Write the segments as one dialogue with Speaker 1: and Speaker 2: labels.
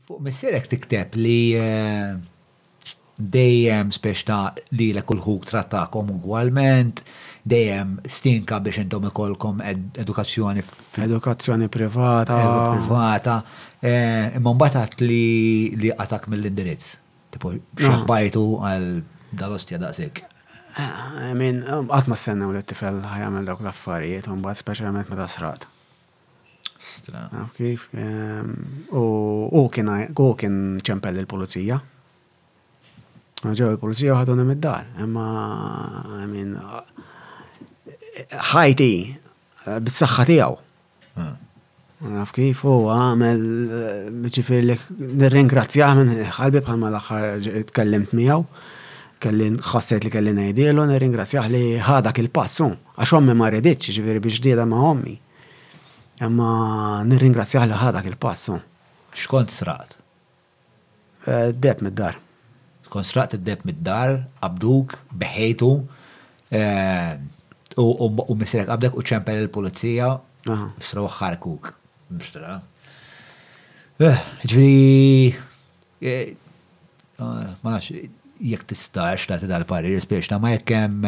Speaker 1: Fuq missierek tikteb li dejjem spiex ta' lilek u l-ħuk trattakom ugwalment, dejjem stinka biex intom ikollkom edukazzjoni Edukazzjoni privata. Privata. Imma mbagħad għedt li qatgħak mill-indirizz. Tipo xebbajtu għal dal-ostja daqshekk. I mean, qatt ma stennew li t-tifel ħajamel dawk l-affarijiet u mbagħad speċjalment meta sraqt. Stra. Naf kif. U hu kien hu kien ċempel il-pulizija. Ġew il-pulizija u ħaduni mid-dar. Imma I mean ħajti bis-saħħa tiegħu. Hmm. Naf kif u għamel ġifier li nirringrazzjah minn ħalbi bħalma l-aħħar tkellimt miegħu. Kelli ħassejt li kelli ngħidielu nirringrazzjah li ħadak il-passu. Għax ommi ma riditx, jiġifieri biex ġdida ma' ommi. Imma nirringrazzjah li ħa dak il-pass. X'kont sraqt? Deheb mid-dar. Kont sraqt id-deheb mid-dar, qabduk, beħejtu, u missierek qabdek u ċempel lill-pulizija u srawh ħarkuk. Jiġifieri. Ma nafx jekk tistax tagħti dal-parir, spiċċa ma jekk hemm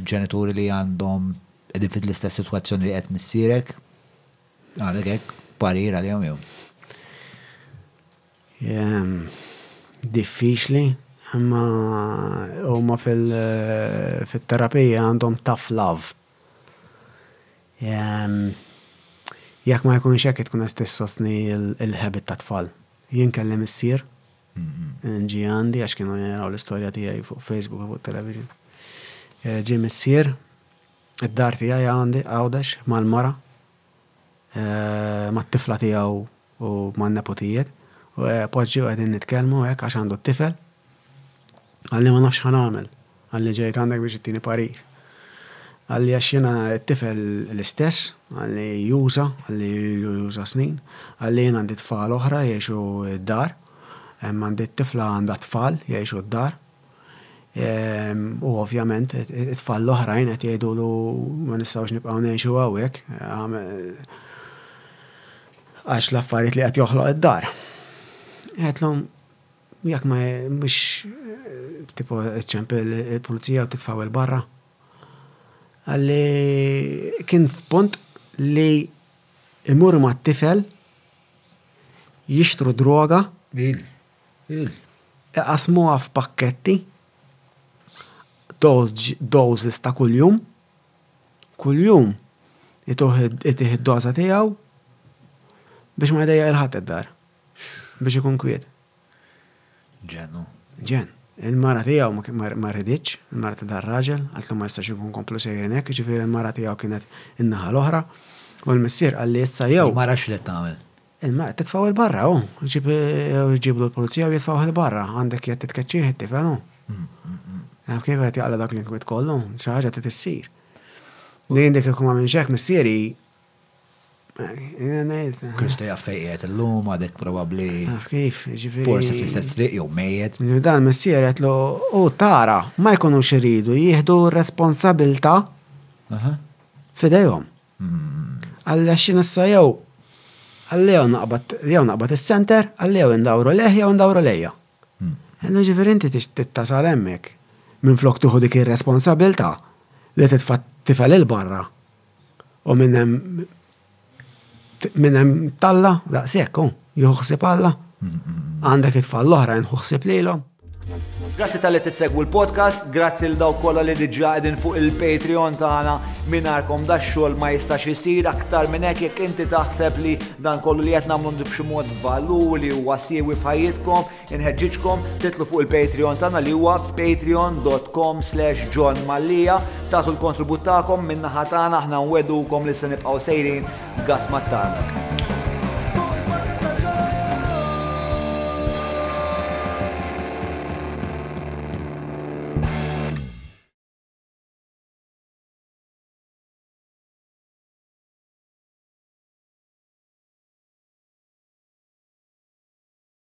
Speaker 1: ġenituri li għandhom qegħdin fil-istess sitwazzjoni li qed missierek, għandek hekk parir għalihom jew? Diffiċli, imma huma fit-terapija għandhom tough love. Jekk ma jkunx hekk tkun qed tissostni l-habit tat-tfal. Jien kelli missier, ġie għandi għax kienu jaraw l-istorja tiegħi fuq Facebook u fuq television. Eh, ġie missier, id-dar tiegħi għandi għawdex mal-mara, eh, mat-tifla tiegħu u man-neputijiet, u eh, poġġi u qegħdin nitkellmu hekk għax għandu t-tifel. Għalli ma nafx ħan għamel, Għalli ġejt għandek biex ittini parir? Għalli għax jiena t-tifel l-istess, għalli juża, għalli ilu juża snin, għalli jien għandi tfal oħra jgħixu d-dar, hemm għandi t-tifla għandha t-tfal jgħixu d-dar, u ovvjament it-tfal l-oħrajn qed jgħidulu ma nistgħux nibqgħu ngħixu hawnhekk għax l-affarijiet li qed joħloq id-dar. Għedtlhom, Jekk ma mhux tipo ċċemp il-pulizija u titfgħu 'l barra. Qalli kien f'punt li imur mat-tifel jixtru droga, iqassmuha f'pakketti, doses ta' kuljum, kuljum itih id-doża tiegħu biex ma jdejjaq 'il ħadd id-dar. biex ikun kwiet. Jen u? Jen. Il-mara tiegħu ma riditx, il-mara ta' dar-raġel, qaltlu ma jistax inkun komplu sejrin hekk, jiġifieri l-mara tiegħu kienet in-naħa l-oħra, u l-missier qal li issa jew. Il-mara x'qed tagħmel? Il-mara qed titfgħu 'l barra hu, jġiblu l-pulizija u jitfgħuh 'il barra, għandek qed titkeċċih it-tifel hu. Taf kif qed jaqla' dak l-inkwiet kollu, xi ħaġa trid issir. Li jien dik il-kma minx hekk missieri Kristu jaf fejn qiegħed illum għadek probabbli. Naf kif, ġifieri. Forsi fl-istess triq jew mejjed. Dan missier qedlu u tara ma jkunux iridu jieħdu responsabilità f'idejhom. Alla xi nissa jew għalli jew naqbad jew naqbad is-center, għalli jew indawru lejh jew indawru lejja. Għalli ġifieri inti tittasal hemmhekk minflok tieħu dik ir-responsabilità li titfa' tifel il-barra. U minn hemm minn hemm talla daqshekk, oh, juħsib Alla. Għandek it-tfal l-oħra nħuħsib lilhom. Grazzi tal-li tissegwu l-podcast, grazzi l daw kolla li diġa għedin fuq il-Patreon tagħna minarkom da xogħol ma jistax isir aktar minn hekk jekk inti taħseb li dan kollu li qed nagħmlu b'xi mod valuri u wasiewi f'ħajjitkom, Inħeġġiġkom titlu fuq il-Patreon tagħna li huwa patreon.com slash John Mallia tagħtu l-kontribut tagħkom min-naħa tagħna aħna nwedukom li se nibqgħu sejrin gas mat-tarmak.